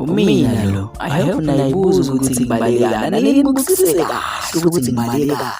Umina lo, I hope nayibuza ukuthi ngibaleka. Nalini bukusise kahle ukuthi ngibaleka.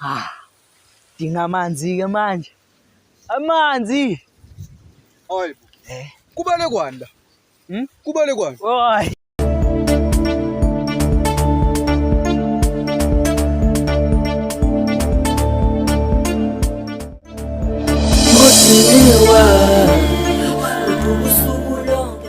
Ah, dinga amanzi-ke manje. Amanzi! Hayi. Eh. Kubale kwani la? Hmm? Kubale kwani? Hayi. Ngosuku lonke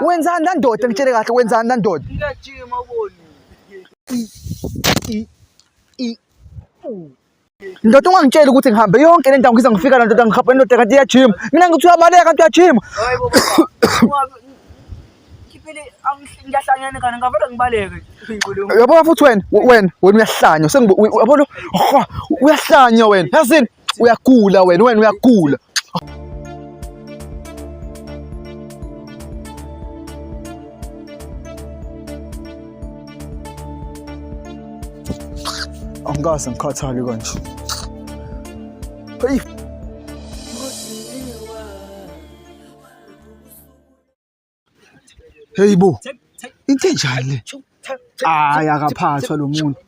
Wenzani landoda ngitshele kahle wenzani landoda? Ngiyajima uboni. Ndoda ungangitsheli ukuthi ngihambe yonke le ndawo ngize ngifika la ndoda ngihamba ndoda kanti iyajima. Mina ngithi uyabaleka kanti uyajima. Hayibo. Ngiphele ngiyahlanyana kana ngavele ngibaleke. Uyabona futhi wena wena wena uyahlanya. Sengibona uyabona uyahlanya wena. Yazini? uyagula wena wena uyagula angikaze ngikhathali kanje heyi heyi bo into enjani le hayi akaphathwa lo muntu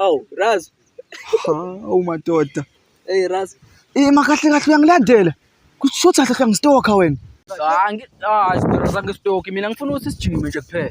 awu raz awu madoda hey raz ima kahle kahle uyangilandela kusho ukuthi kahle kahle ngisitokha wena hayi ah, ah, angistokhi mina ngifuna ukuthi sijime nje kuphela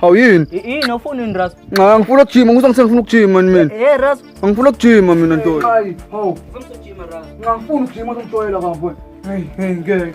hawu yini yini ofuna ini ras nxa ngifuna ukujima ngisa ngise ngifuna ukujima ni mina eh ras ngifuna ukujima mina ntoyi hawu nxa ngifuna ukujima uzongijwayela bafo hey hey ngeke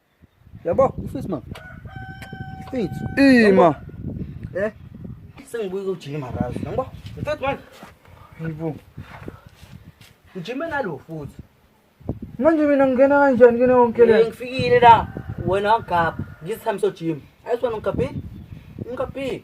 Yabo, ufisi mama. Fethu. Ima. Eh. Sengibuye kujima kazi. Yabo. Mfethu manje. Ngibu. Ujime nalo futhi. Manje mina ngingena kanjani kene wonke le? Ngifikile la. Wena wagapha. Ngizihambisa ojima. Ayisona ngigabhile. Ngigabhile.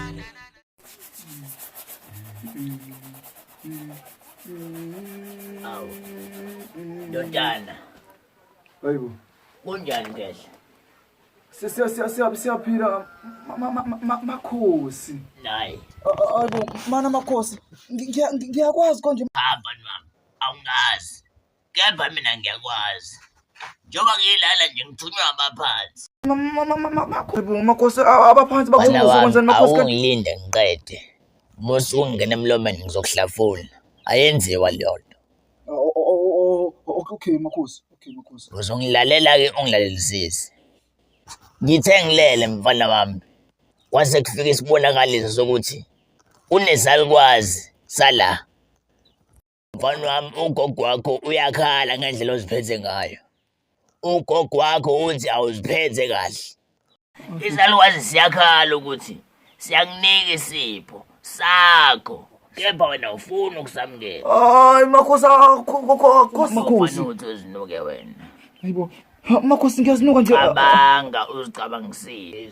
Awu. Ndodana. Hayibo. Kunjani ngehla? Sisiya siya siya siyaphila makhosi. Nayi. Hayibo, mana makhosi. Ngiyakwazi konje. Hamba nami. Awungazi. kepha mina ngiyakwazi njengoba ngiyilala nje ngithunywa abaphansi makhosi abaphansi bakuzokwenzani makhosi awungilinde ngiqede musa ungena emlomeni ngizokuhlafuna ayenziwa leyonto okay makhosi okay makhosi uzongilalela-ke ungilalelisisi ngithe ngilele mfana wami kwase kufika isibonakaliso sokuthi unezalukwazi sala Mfana wami ugogo wakho uyakhala ngendlela oziphethe ngayo. Ugogo wakho uthi awuziphethe kahle. Izalukazi siyakhala ukuthi siyakunika isipho sakho kepha wena ufuna ukusamukela. Hayi makhosi akho makhosi. Makhosi. Uthi uzinuke wena. Hayibo. Makhosi ngiyazinuka nje. Cabanga uzicabangisile.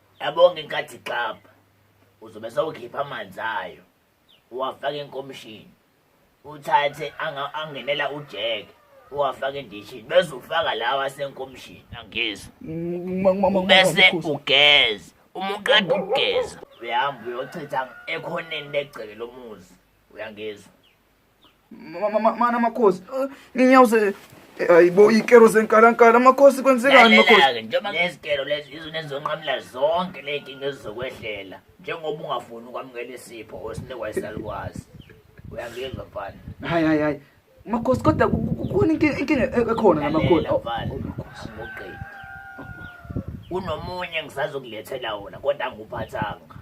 Yabonga inkathi xapha. Uzobe sewukhipha amanzi ayo. Uwafaka enkomishini. Uthathe angenela ujeke. Uwafaka endishini bese ufaka lawa asenkomishini. Angizwa. Bese ugeza. Uma uqeda ukugeza uyahamba uyochitha ekhoneni legceke lomuzi. Uyangizwa. mana makhosi nginyawuze ayibo ikero zenkalankala makhosi kwenzekani makhosi njengoba ngezikero lezi izona ezizonqamula zonke ley'nkinga ezizokwehlela njengoba ungafuni ukwamukela isipho osinikwa isalukwazi uyangizwa mfana hayi hayi hayi makhosi kodwa kukhona inkinga ekhona namakhosi angikuqedi kunomunye engisazokulethela wona kodwa angikuphathanga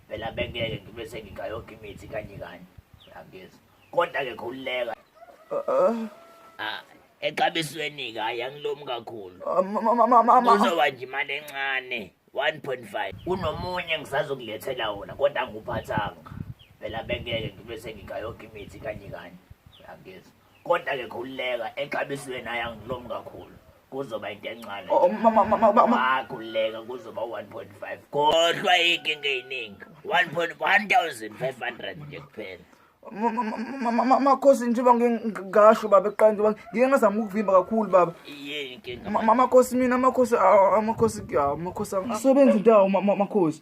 phela bengeke ngibe sengikha yonke imithi kanye kanye angezi kodwa-ke khululeka Ah, exabisweni-ke hhayi angilomi kakhulu uzoba nje imali encane 1.5 kunomunye ngisazokulethela wona kodwa anguphathanga phela bengeke ngibe sengikha yonke imithi kanye kanye angezi kodwa ke khululeka exabisweni ayangilom kakhulu kuzoba into encane oh, oh, akhululeka kuzoba 1.5 kodwa inkinga eyiningi 1500 nje kuphela makhosi njengoba ngingasho baba eqala njengoba ngike ngazama ukuvimba kakhulu baba amakhosi mina amakhosi amakhosi amakhosi angisebenzi ndawo amakhosi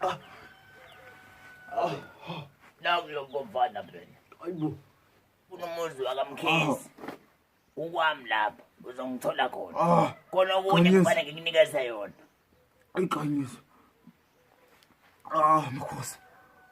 Ah. Ah. Nakulokuvana phela. Ayibo. Kunomuzi wakamkhisi. Ukwami lapha uzongithola khona. Ah. Khona okunye kufanele ngikunikeze yona. Ayiqiniso. Ah, mkhosi.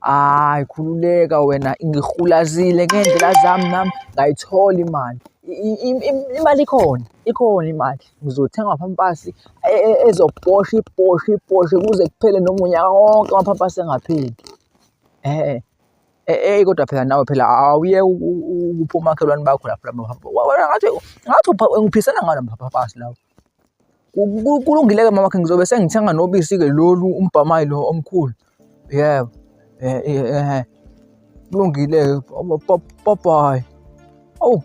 hayi khululeka wena ngihulazile ngey'ndlela zami nami ngayithola imali imali ikhona ikhona imali ngizothenga amapampasi e, e, ezoposha iposha iposha kuze kuphele noma unyaka wonke amapampasi engapheli um eyi kodwa phela nawe phela awuye ukuphi omakhelwane bakho lapho lapho ngathi ngathi ngiphisana ngalo mapampasi lawo kulungile-ke mama khe ngizobe sengithenga nobisi-ke lolu umbhamayi lo omkhulu yebo eh, eh, eh, kulungile-ke babayi awu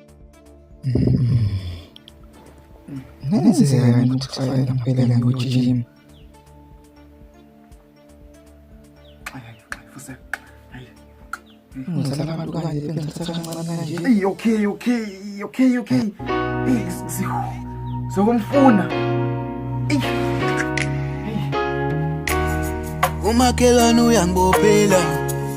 ngenzeka ukuthi kufanele ngiphelele ngojima Hey, okay, okay, okay, okay. Hey, sizokumfuna. Umakhelwane uyangibophela.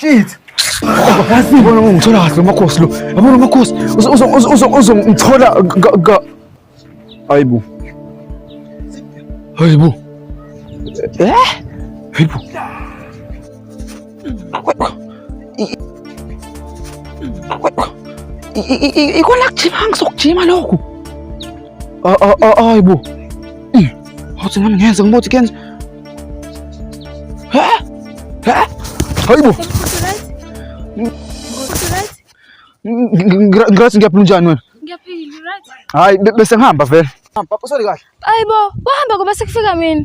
Shit! Kazi ngibona ngithola kahle umakhosi lo. Yabona umakhosi uzongithola ka Hayibo. Hayibo. Eh? Hayibo. ikona kujima ngisokujima lokhu ayibo awuthi nami ngenze ngimothi kenze ayibo ngirathi ngiyaphila unjani wena hayi bese ngihamba vele Papa, sorry kahle. Ayibo, wahamba ngoba sekufika mina.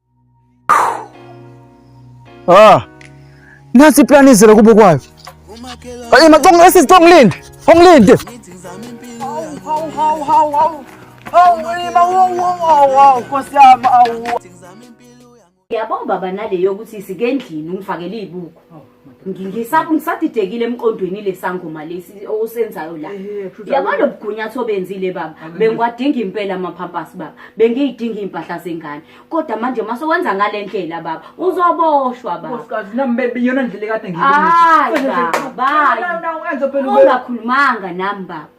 Ah. Nathi plan izela kubo kwayo. Hey macongo esi sicongo linde. Ongilinde. Hawu hawu hawu hawu hawu. Hawu ngima hawu hawu hawu Nkosi yami awu. Yabona baba nale yokuthi sike endlini ungifakele izibuko. ngisadidekile emqondweni lesangoma lesi osenzayo la yabona lobugunyathi obenzile baba bengiwadinga impela amaphampasi baba bengiyidinga iy'mpahla zengane kodwa manje uma sowenza ngale ndlela baba uzoboshwa babaungakhulumanga nami baba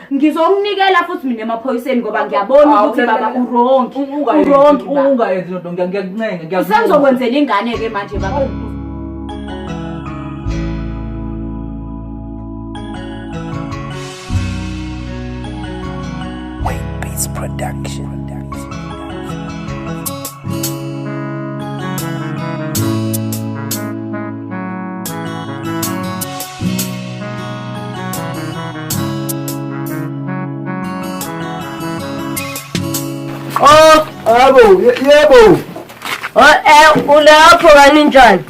ngizomnikela futhi mina emaphoyiseni ngoba ngiyabona ah, ukuthi baba urongi urongi ungayenzi lento ngiyakuncenga ngiyakuncenga usengizokwenzela ingane ke manje baba oh. Production. Oh, abo, yebo. Oh, eh ulapho kaninjani?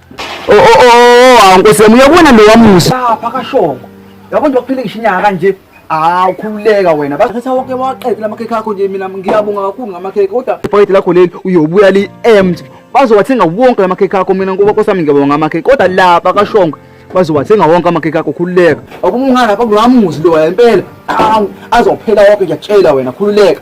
Oh oh oh, oh, oh nkosi yami uyabona lo wamusa. Lapha kashongo. Yabo nje wakuphile ngisho inyanga kanje. Ah ukhululeka wena. Bathatha wonke waqedela amakhekhe akho nje mina ngiyabonga kakhulu ngamakhekhe kodwa ibhayidi lakho leli uyobuya li empty. Bazowathenga wonke amakhekhe akho mina ngoba kosami ngiyabonga ngamakhekhe kodwa lapha kashongo bazowathenga wonke amakhekhe akho khululeka. Akumungana bakulo wamuzi lo impela. Azophela wonke ngiyakutshela wena khululeka.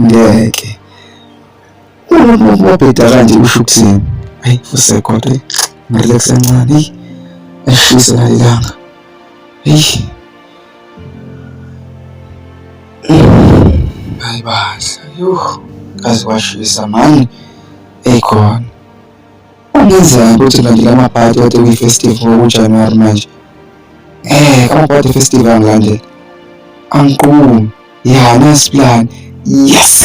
ngeke ubheda kanje usho ukuthini ayi usekhona ngale kusencane eyi ashise nalelanga eyi hayi bandla yho kaze kwashisa mani eyikhona Kungenzeka ukuthi kanti la maphathi kade kwi-festive ngokujanuwari manje um amaphathi efestive angilandela angiqumi ya nice plan yes